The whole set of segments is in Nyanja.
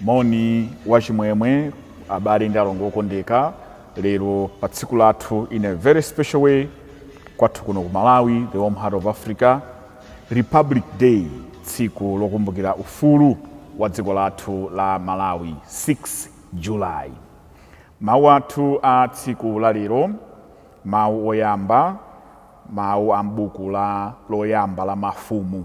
Moni wachimwemwe abale ndi alongo okondeka, lero pa tsiku lathu in a very special way kwathu kuno ku Malawi, the warm heart of Africa, Republic Day, tsiku lokumbukira ufulu wa dziko lathu la Malawi 6 July. Mawu athu a tsiku la lero, mawu oyamba, mawu a m'buku loyamba la mafumu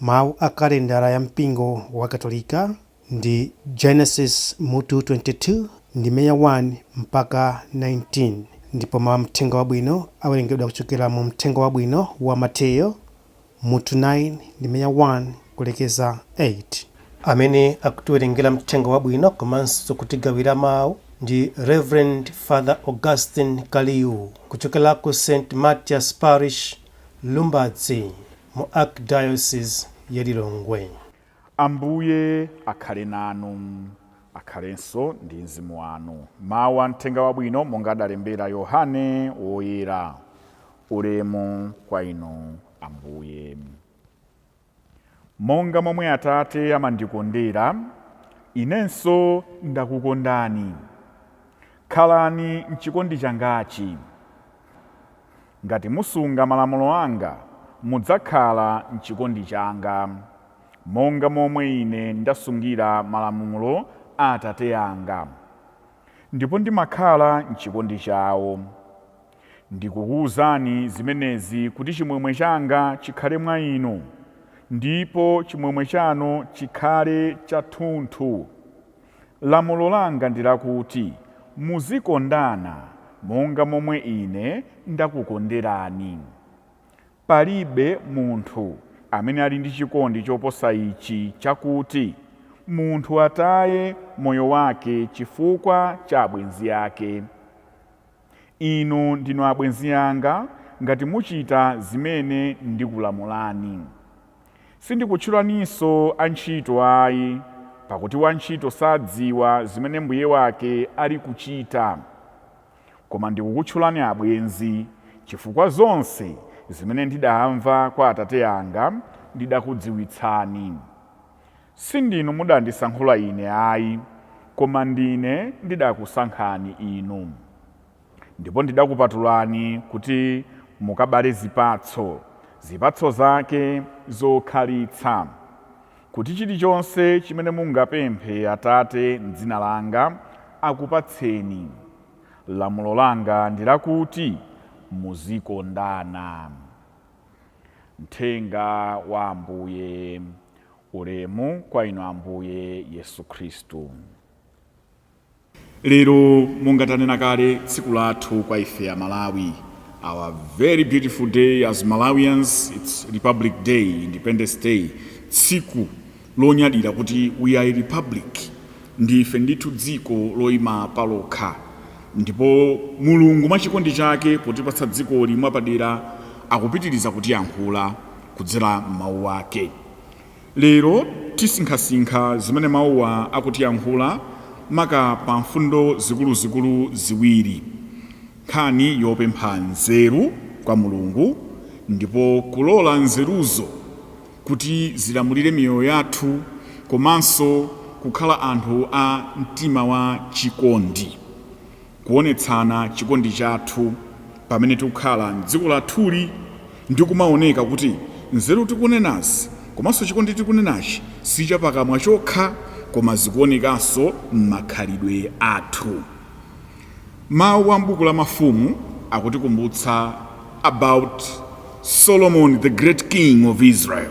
Mawu a kalendala ya mpingo wa Katolika ndi Genesis mutu 22 ndime ya 1 mpaka 19, ndipo mawu a Mthenga Wabwino awerengedwa kuchokera mu Mthenga Wabwino wa Mateyo mutu 9 ndime ya 1 kulekeza 8. Amene akutiwerengera Mthenga Wabwino komanso kutigawira mawu ndi Reverend Father Augustine Kaliu kuchokera ku St. Matthias Parish, Lumbadzi. mu Archdiocese ya Lilongwe. Ambuye akhale nanu. Akhalenso ndi mzimu wanu. Mawu a Mthenga Wabwino monga adalembera Yohane Woyera. Ulemu kwa Inu Ambuye. Monga momwe Atate amandikondera, Inenso ndakukondani. Khalani m'chikondi changachi. Ngati musunga malamulo anga, mudzakhala m'chikondi changa, monga momwe Ine ndasungira malamulo a Atate anga, ndipo ndimakhala m'chikondi chawo. Ndikukuuzani zimenezi kuti chimwemwe changa chikhale mwa inu, ndipo chimwemwe chanu chikhale chathunthu. Lamulo langa ndi lakuti muzikondana monga momwe ine ndakukonderani. Palibe munthu amene ali ndi chikondi choposa ichi chakuti munthu ataye moyo wake chifukwa cha abwenzi ake. Inu ndinu abwenzi anga ngati muchita zimene ndikulamulani. Sindikutchulaninso antchito ayi, pakuti wantchito sadziwa zimene mbuye wake ali kuchita. Koma ndikukutchulani abwenzi, chifukwa zonse zimene ndidamva kwa Atate anga ndidakudziwitsani. Si ndinu mudandisankhula Ine ayi, koma ndine ndidakusankhani inu, ndipo ndidakupatulani kuti mukabale zipatso, zipatso zake zokhalitsa, kuti chilichonse chimene mungapemphe Atate m'dzina langa, akupatseni. Lamulo langa ndi lakuti muzikondana. Mthenga wa Ambuye Ulemu kwa Inu Ambuye Yesu Khristu. Lero monga tanena kale tsiku lathu kwa ife a Malawi our very beautiful day as Malawians it's Republic Day Independence Day tsiku lonyadira kuti we are a republic ndife ndithu dziko loyima palokha ndipo Mulungu mwa chikondi chake potipatsa dzikoli mwapadera akupitiriza kutiyankhula kudzera m'mawu ake Lero tisinkhasinkha zimene mawuwa akutiyankhula maka pa mfundo zikuluzikulu ziwiri, nkhani yopempha nzeru kwa Mulungu ndipo kulola nzeruzo kuti zilamulire miyoyo yathu komanso kukhala anthu a mtima wa chikondi. Kuonetsana chikondi chathu pamene tikukhala m'dziko lathuli ndi kumaoneka kuti nzeru tikunenazi komanso chikondi tikunenachi si chapakamwa chokha koma zikuonekanso m'makhalidwe athu. Mawu a m'buku la Mafumu akutikumbutsa about Solomon the great king of Israel.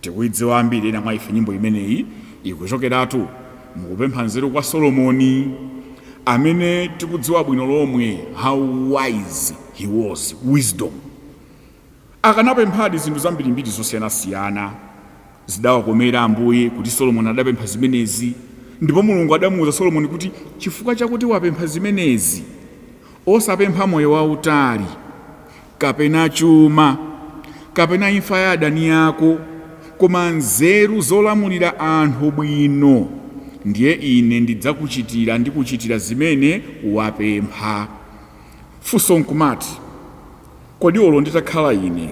Tikuidziwa ambiri ena mwa ife nyimbo imeneyi. Ikuchokeratu mu kupempha nzeru kwa Solomoni, amene tikudziwa bwino lomwe how wise he was, wisdom. Akanapemphadi zinthu zambirimbiri zosiyanasiyana. Zidawakomera Ambuye kuti Solomoni adapempha zimenezi, ndipo Mulungu adamuuza Solomoni kuti chifukwa chakuti wapempha zimenezi, osapempha moyo wautali. kapena chuma, kapena imfa ya adani ako, koma nzeru zolamulira anthu bwino, ndiye ine ndidzakuchitira ndikuchitira zimene wapempha. Funso nkumati, Kodi olo nditakhala ine,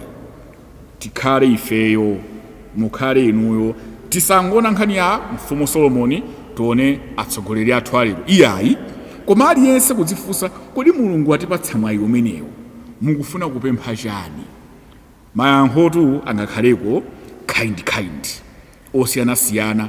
tikhale ifeyo mukhale inuyo tisangoona nkhani ya mfumu solomoni tione atsogoleri athu alero iyayi koma aliyense kudzifunsa kodi mulungu atipatsa mwayi umenewo mukufuna kupempha chani mayankhotu angakhaleko kind kind osiyanasiyana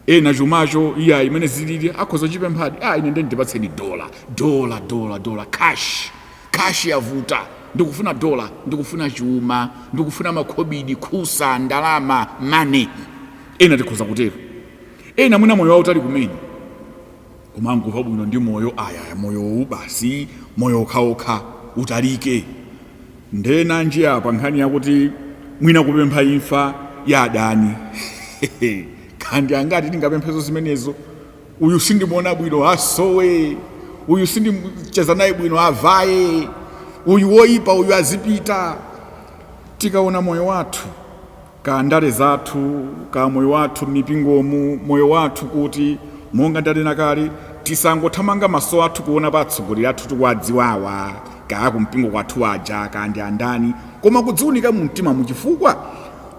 ena chumacho iya mmene zilili akhoza chipemphadi ah ine ndeni ndipatseni dola dola dola dola cash cash yavuta ndikufuna dola ndikufuna chuma ndikufuna makhobidi khusa ndalama money ena tikhoza kutero ena mwina moyo wautali kumene kumangomva bwino ndi moyo ayaya moyowu basi moyo wokhawokha utalike nde nanji apa nkhani yakuti mwina kupempha imfa ya adani kaya ndi angati tingapemphezo zimenezo uyu sindimuona bwino asowe uyu sindicheza naye bwino avaye uyu woipa uyu azipita tikaona moyo wathu kaya ndale zathu, kaya moyo wathu m'mipingomu, moyo wathu kuti, monga ndanena kale, tisangothamanga maso athu kuona pa atsogoleri athu tikuwadziwawa, kaya aku mpingo kwathu aja, kaya ndi andani, koma kudziunika mu mtimamu chifukwa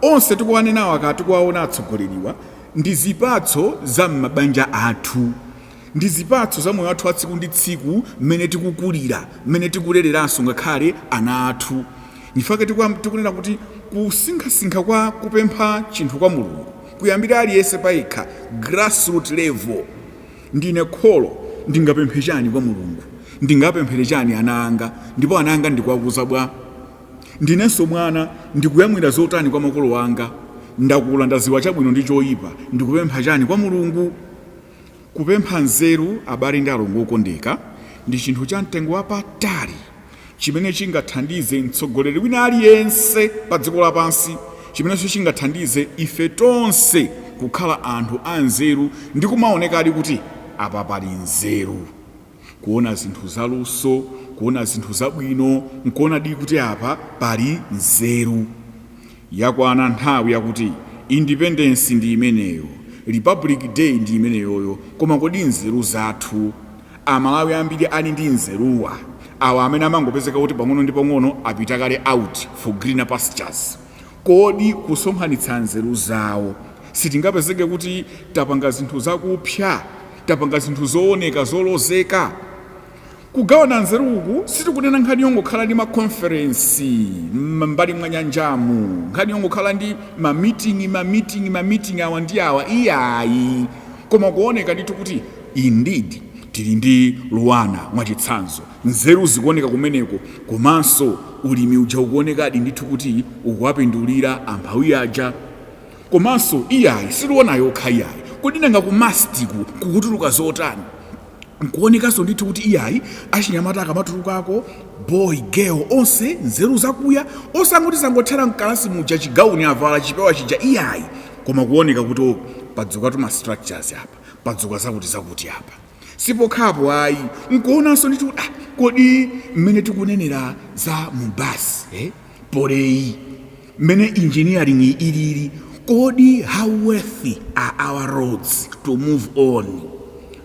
onse tikuwanenawa kaya tikuwaona atsogoleriwa ndi zipatso za m'mabanja athu. Ndi zipatso za moyo wathu wa tsiku ndi tsiku, mmene tikukulira, mmene tikulereranso ngakhale ana athu. Nchifukwa chake tikunena kuti kusinkhasinkha kwa kupempha chinthu kwa Mulungu kuyambire aliyense payekha, grassroot level, Ndine kholo, ndingapemphe chani kwa Mulungu? Ndingapemphere chani ana anga? Ndipo ana anga ndikuwakuza bwa? Ndinenso mwana, ndikuyamwira zotani kwa makolo anga? Ndakula, ndaziwa chabwino ndi choipa, ndikupempha chani kwa Mulungu? Kupempha nzeru, abale ndi alongo okondeka, ndi chinthu cha mtengo wapatali chimene chingathandize mtsogoleri wina aliyense padziko lapansi, chimenenso chingathandize ife tonse kukhala anthu anzeru ndi kumaonekadi kuti apa pali nzeru. kuona zinthu zaluso kuona zinthu zabwino nkuonadi kuti apa pali nzeru yakwana nthawi yakuti independence ndi imeneyo republic day ndi imeneyoyo koma kodi nzeru zathu amalawi ambiri ali ndi nzeruwa awa amene amangopezeka kuti pang'ono ndi pang'ono apita kale out for greener pastures Kodi kusonkhanitsa nzeru zawo, sitingapezeke kuti tapanga zinthu zakupsa? Tapanga zinthu zooneka zolozeka? Kugawana nzeru uku sitikunena nkhani yongokhala ndi makonferensi m'mbali mwa nyanjamu, nkhani yongokhala ndi mamiting'i, mamiting'i, mamiting'i awa ndi awa, iyayi, koma kuoneka ndithu kuti, indeed, tili ndi LUANAR, mwachitsanzo. Nzeru zikuoneka kumeneko komanso ulimi uja ukuonekadi ndithu kuti ukuwapindulira amphawi aja. Komanso iyayi si LUANAR yokha iyayi. Kodi nanga ku MUST-ku kukutuluka zotani? Nkuonekanso ndithu kuti iyayi achinyamata akamatulukako, boy, girl, onse nzeru zakuya, osangoti zangothera m'kalasi muja chigauni avala, chipewa chija iyayi, koma kuoneka kuti oh, padzukatu ma structures apa, padzuka zakutizakuti apa. sipokhapo ayi nkuonanso ndithu kuti ah, kodi mmene tikunenera za MUBAS eh? Poly mmene engineering ilili kodi how worthy are our roads to move on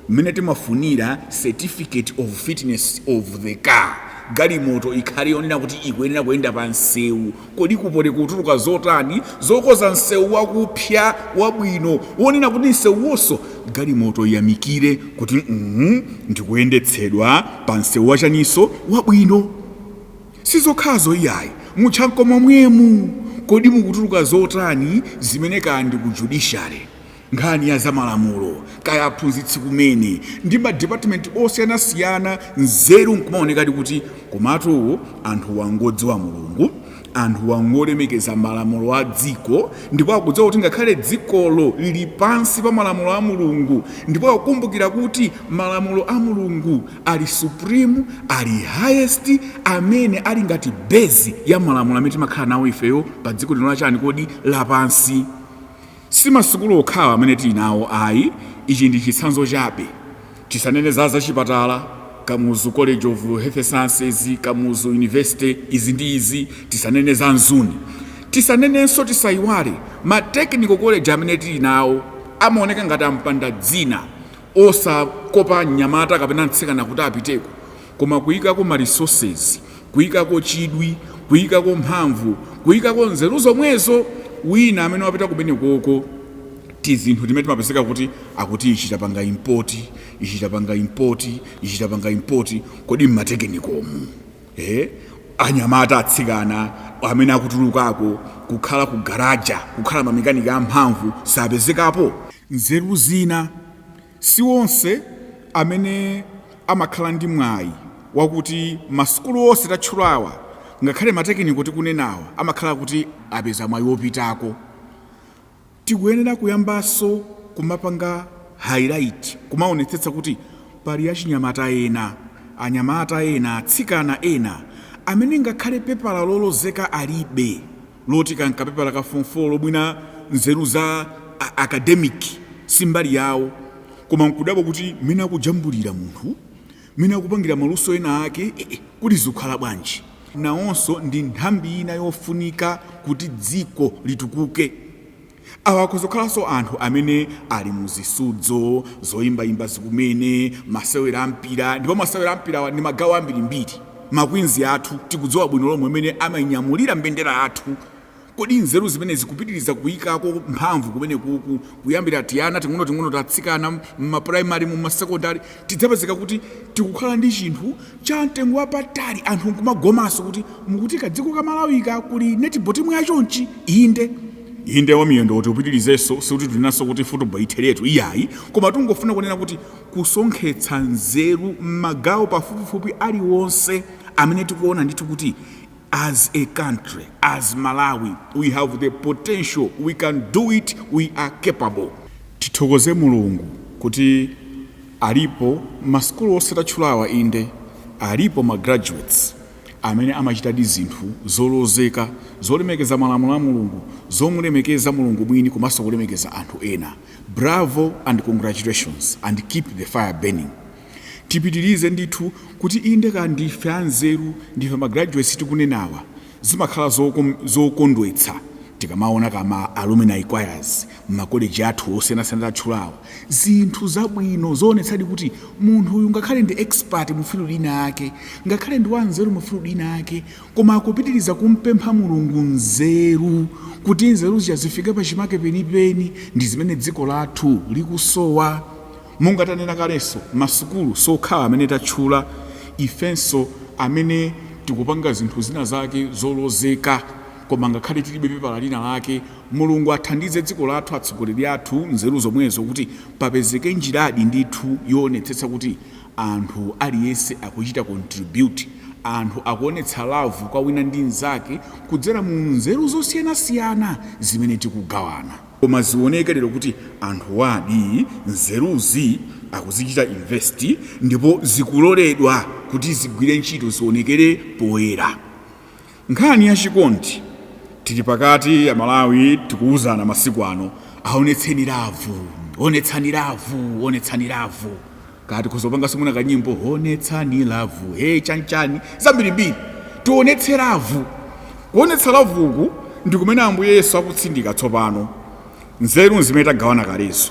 mmene timafunira certificate of fitness of the car galimoto ikhale yonena kuti ikuyenera kuyenda pa msewu Kodi ku Poly kutuluka zotani zokoza nsewu wakupsya wabwino wonena kuti nsewuwonso galimoto iyamikire kuti mm ndikuyendetsedwa pa nsewu wachaniso wabwino? Sizokhazo iyayi, mu Chanco momwemu, kodi mukutuluka zotani zimene kaya ndi ku Judiciary, Nkhani ya zamalamulo, kaya aphunzitsi kumene, ndi ma department osiyanasiyana nzeru nkumaonekadi kuti komatu anthuwa ngodziwa Mulungu, anthuwa ngolemekeza malamulo a dziko ndipo akudziwa kuti ngakhale dzikolo lili pansi pa malamulo a Mulungu ndipo akukumbukira kuti malamulo a Mulungu ali supreme, ali highest, amene ali ngati base ya malamulo amene timakhala nawo ifeyo padziko lino la chani kodi, lapansi. Si masukulu okhawa amene tili nawo ayi, ichi ndi chitsanzo chabe. Tisanene za zachipatala, Kamuzu College of Health Sciences, Kamuzu University, izi ndi izi, tisanene za Mzuni. Tisanenenso, tisaiwale, ma technical college amene tili nawo amaoneka ngati ampanda dzina, osakopa mnyamata kapena mtsikana kuti apiteko. Koma kuikako ma resources, kuikako chidwi, kuikako mphamvu, kuikako nzeru zomwezo, wina amene wapita kumenekoko, tizinthu timene timapezeka kuti akuti ichi tapanga import, ichi tapanga import, ichi tapanga import, kodi m'matekinikomu, eh, anyamata, atsikana amene akutulukako kukhala ku garaja, kukhala ma mechanic amphamvu sapezekapo? Nzeru zina Si onse amene amakhala ndi mwayi wakuti masukulu onse tatchulawa ngakhale matekiniko tikunenawa amakhala kuti apeza mwayi wopitako. Tikuyenera kuyambanso kumapanga highlight, kumaonetsetsa kuti pali achinyamata ena, anyamata ena, atsikana ena amene ngakhale pepala lolozeka alibe. loti kankapepala ka form 4 olo mwina nzeru za academic si mbali yawo koma nkudabwa kuti mmene akujambulira munthu mmene akupangira maluso ena ake kuti zikukhala bwanji nawonso ndi nthambi ina yofunika kuti dziko litukuke Awa akhoza kukhalanso anthu amene ali mu zisudzo, zoyimbayimba kumene, masewera a mpira, ndipo masewera a mpira ndi magawo ambirimbiri. Ma Queens athu tikudziwa bwino lomwe mmene amanyamulira mbendera yathu. Kodi nzeru zimenezi, kupitiriza kuikako mphamvu kumenekuku, kuyambira tiana ting'onoting'ono ta atsikana, m'mapurayimarimu, m'masekondale, tidzapezeka kuti tikukhala ndi chinthu cha mtengo wapatali anthu nkumagomanso kuti mukuti kadziko ka malawika kuli netball timu ya chonchi inde inde wamiyendo kuti upitirizenso sikuti tikunenanso kuti football itheretu iyayi koma tungofuna kunena kuti kusonkhetsa nzeru m'magawo pafupifupi aliwonse amene tikuona ndithu kuti As a country, as Malawi, we have the potential, we can do it, we are capable. Tithokoze Mulungu kuti alipo masukulu onse tatchulawa inde alipo ma graduates amene amachitadi zinthu zolozeka zolemekeza malamulo a Mulungu zomulemekeza Mulungu mwini komanso kulemekeza anthu ena. Bravo and congratulations and keep the fire burning. tipitilize ndithu kuti inde ka ndife anzeru ndife ma graduates tikunenawa zimakhala zokondwetsa tikamaona ka ma alumni choirs mma college athu osiyanasiyana tatchulawa zinthu zabwino zoonetsadi kuti munthu uyu ngakhale ndi expert mu field inayake ngakhale ndi wanzeru mu field inayake koma akupitiliza kumpempha Mulungu nzeru kuti nzeru zija zifike pachimake penipeni ndi zimene dziko lathu likusowa. Monga tanena kalenso, masukulu siokhawa amene tatchula, ifenso amene tikupanga zinthu zina zake zolozeka koma ngakhale tilibe pepala lina lake, Mulungu athandize dziko lathu, atsogoleri athu, nzeru zomwezo kuti papezeke njiradi ndithu yoonetsetsa kuti anthu aliyense akuchita contribute, anthu akuonetsa love kwa wina ndi mzake kudzera mu nzeru zosiyanasiyana zimene tikugawana. Koma zioneke lero kuti anthuwadi nzeruzi akuzichita invest ndipo zikuloledwa kuti zigwire ntchito zionekere poyera. Nkhani ya chikondi tili pakati ya Amalawi tikuuzana masiku ano aonetseni lavu, onetsani lavu, onetsani lavu. kaya tikhoza upanganso mwina kanyimbo onetsani lavu he chanchani zambirimbiri tionetse lavu kuonetsa lavu uku ndi kumene ambuye yesu akutsindika tsopano nzeru nzimene tagawana kalezo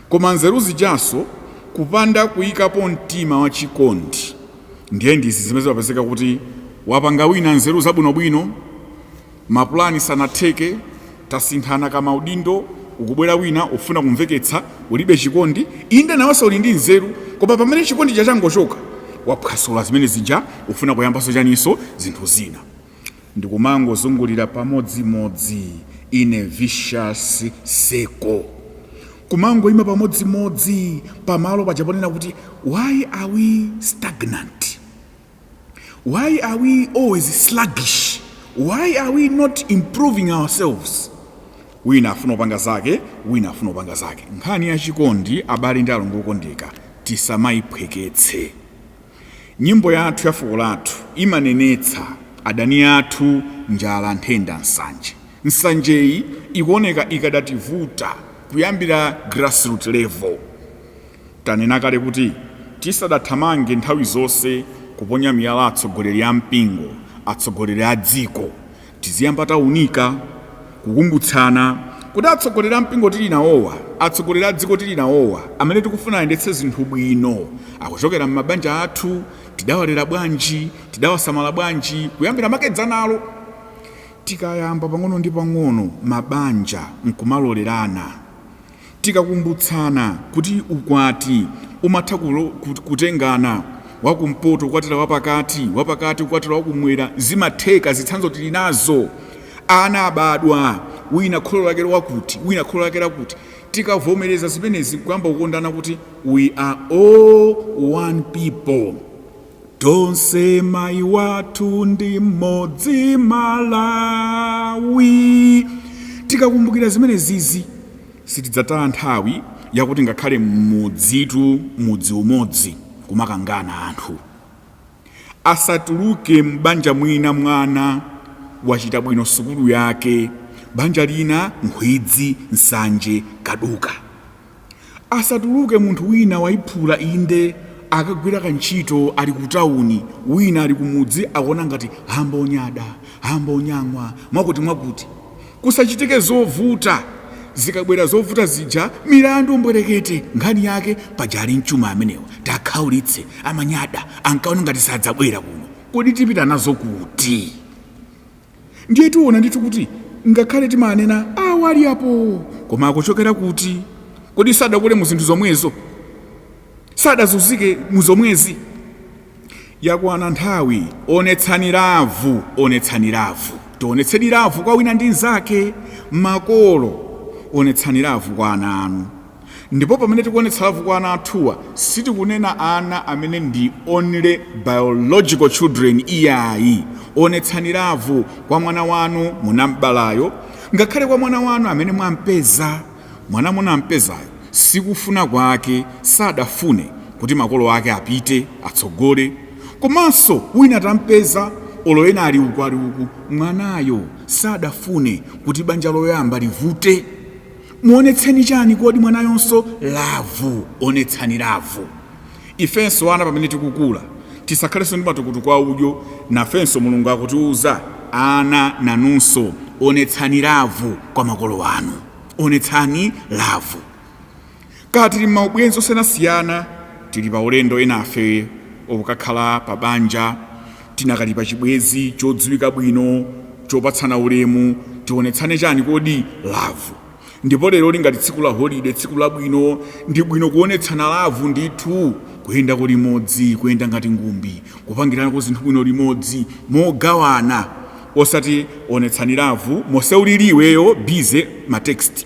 koma nzeru zijaso kupanda kuyikapo mtima wa chikondi ndiye ndizi zimene zimapezeka kuti wapanga wina nzeru zabwinobwino Mapulani sanatheke, tasinthana ka maudindo, ukubwera wina ufuna kumveketsa ulibe chikondi, inde nawenso uli ndi nzeru koma pamene chikondi chija changochoka waphwasula zimene zija ufuna kuyambanso chaninso zinthu zina. Ndikumangozungulira pamodzimodzi in a vicious circle. Kumangoima pamodzimodzi pamalo paja ponena kuti why are we stagnant? Why are we always sluggish? Why are we not improving ourselves? wina afuna upanga zake wina afuna upanga zake nkhani ya chikondi abale ndi alongo okondeka tisamayiphweketse nyimbo yathu ya fuko lathu imanenetsa adani athu njala nthenda nsanje nsanjeyi ikuoneka ikadativuta kuyambira grassroot level Tanena kale kuti tisadathamange nthawi zonse kuponya miyala atsogoleri a mpingo, atsogoleri a dziko, tiziyamba taunika, kukumbutsana kuti atsogoleri a mpingo tili nawowa, atsogoleri a dziko tili nawowa, amene tikufuna ayendetse zinthu bwino, akuchokera m'mabanja athu, tidawalera bwanji, tidawasamala bwanji, kuyambira makedzanalo. Tikayamba pang'ono ndi pang'ono, mabanja nkumalolerana. Tikakumbutsana kuti ukwati umatha kutengana, wakumpoto kukwatira wapakati, wapakati kukwatira wakumwera, zimatheka. Zitsanzo tili nazo. Ana abadwa, wina kholo lake lakuti, wina kholo lake lakuti. Tikavomereza zimenezi nkuyamba kukondana kuti we are all one people. Tonse mai wathu ndi mmodzi Malawi. Tikakumbukira zimenezizi sitidzataya nthawi yakuti ngakhale m'mudzitu mudzi umodzi kumakangana anthu. Asatuluke m'banja mwina mwana wachita bwino sukulu yake, banja lina nkhwidzi, nsanje, kaduka. asatuluke munthu wina waiphula inde akagwira kantchito ali ku tawuni wina ali kumudzi akuona ngati amba onyada amba onyang'wa mwakuti mwakuti kusachitike zovuta zikabwera zovuta zija milandu mbwerekete nkhani yake paja ali mchuma amenewa takhaulitse amanyada ankaona ngati sadzabwera kuno kodi tipita nazo kuti ndiye tiona ndithu kuti ngakhale timanena awo ali apo koma akuchokera kuti kodi sadakule mu zinthu zomwezo sadazunzike mu zomwezi yakwana nthawi onetsani lavu onetsani lavu tionetsedi lavu kwa wina ndi mnzake makolo onetsani lavu kwa ana anu Ndipo pamene tikuonetsa lavu kwa ana athuwa sitikunena ana amene ndi only biological children iyayi. Onetsani lavu kwa mwana wanu munam'balayo ngakhale kwa mwana wanu amene mwampeza. Mwana munampezayo sikufuna kwake, sadafune kuti makolo ake apite atsogole komanso wina tampeza olo ena ali uku ali uku mwanayo sadafune kuti banja loyamba livute. muonetseni chani kodi mwanayonso lavu onetsani lavu ifenso ana pamene tikukula tisakhalenso ndi matukutuku a udyo nafenso mulungu akutiuza ana nanunso onetsani lavu kwa makolo anu onetsani lavu Kaya tili m'maubwenzi osiyanasiyana, tili paulendo, enafe okukhala pabanja, tinakali pachibwenzi chodziwika bwino, chopatsana ulemu, tionetsane chani kodi? Lavu. Ndipo leroli ngati tsiku la holide, tsiku labwino, ndi bwino kuonetsana lavu ndithu, kuyendako limodzi, kuyenda ngati ngumbi, kupangiranako zinthu bwino limodzi, mogawana, osati onetsani lavu mose ulili iweyo busy ma text.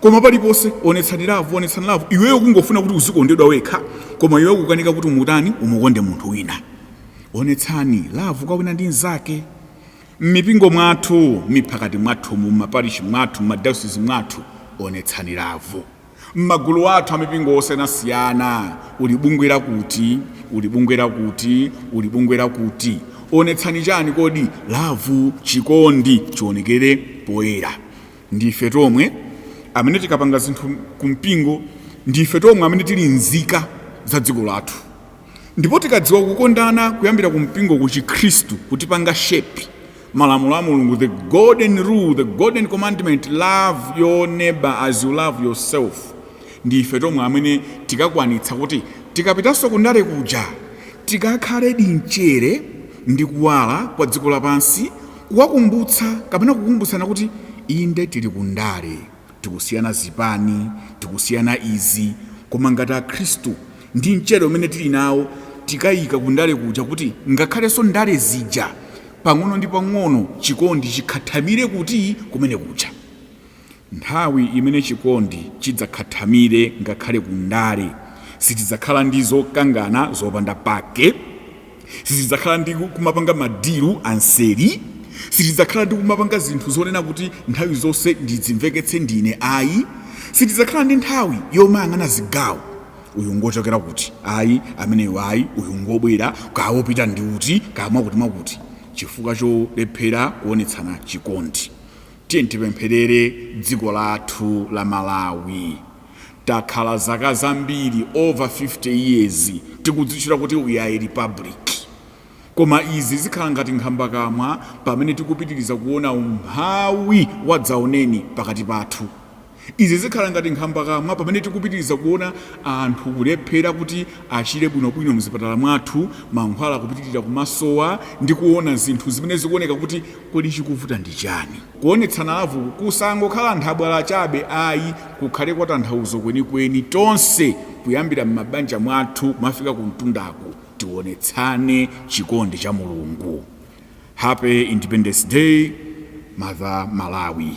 koma paliponse onetsani lavu onetsani lavu iweyo kungofuna kuti uzikondedwa wekha koma iweyo kukanika kuti umutani umukonde munthu wina onetsani lavu kwa wina ndi mnzake m'mipingo mwathu m'miphakati mwathu mu maparishi mwathu m'madayosizi mwathu onetsani lavu m'magulu athu amipingo osiyanasiyana uli m'bungwe lakuti uli m'bungwe lakuti uli m'bungwe lakuti onetsani chani kodi lavu chikondi chionekere poyera ndi ife tomwe amene tikapanga zinthu ku mpingo ndi ife tomwe amene tili nzika za dziko lathu ndipo tikadziwa kukondana kuyambira ku mpingo ku chikhristu kutipanga shape malamulo a mulungu the golden rule the golden commandment love your neighbor as you love yourself ndi ife tomwe amene tikakwanitsa kuti tikapitanso kundale kuja tikakhale ndi mchere ndi kuwala kwa dziko lapansi Kuwakumbutsa kapena kukumbutsana kuti inde tili ku ndale, tikusiyana zipani, tikusiyana izi, koma ngati akhristu ndi mchere umene tili nawo tikaika ku ndale kuja kuti ngakhalenso ndale zija pang'ono ndi pang'ono chikondi chikhathamire kuti? Kumene kuja. Nthawi imene chikondi chidzakhathamire ngakhale ku ndale, sitidzakhala ndi zokangana zopanda pake, sitidzakhala ndi kumapanga madilu anseri, sitidzakhala ndi kumapanga zinthu zonena kuti nthawi zonse ndidzimveketse ndine ayi, sitidzakhala ndi nthawi yomayang'ana zigawo, uyu ngochokera kuti, ayi ameneyo ayi, uyu ngobwera, kaya wopita ndi uti, kaya mwakuti mwakuti, chifukwa cholephera kuonetsana chikondi. Tiyeni tipempherere dziko lathu la Malawi. Takhala zaka zambiri over 50 years tikudzitchula kuti we are a republic. Koma izi zikhala ngati nkhambakamwa pamene tikupitiriza kuona umphawi wadzaoneni pakati pathu. Izi zikhala ngati nkhambakamwa pamene tikupitiriza kuona anthu kulephera kuti achire bwinobwino m'zipatala mwathu, mankhwala kupitirira kumasowa, ndi kuona zinthu zimene zikuoneka kuti kodi chikuvuta ndi chani? Kuonetsana lavuku kusangokhala nthabwala chabe ayi, kukhale kwa tanthauzo kwenikweni, tonse kuyambira m'mabanja mwathu kumafika kumtundaku, tionetsane chikondi cha Mulungu. Happy Independence Day, Mother Malawi.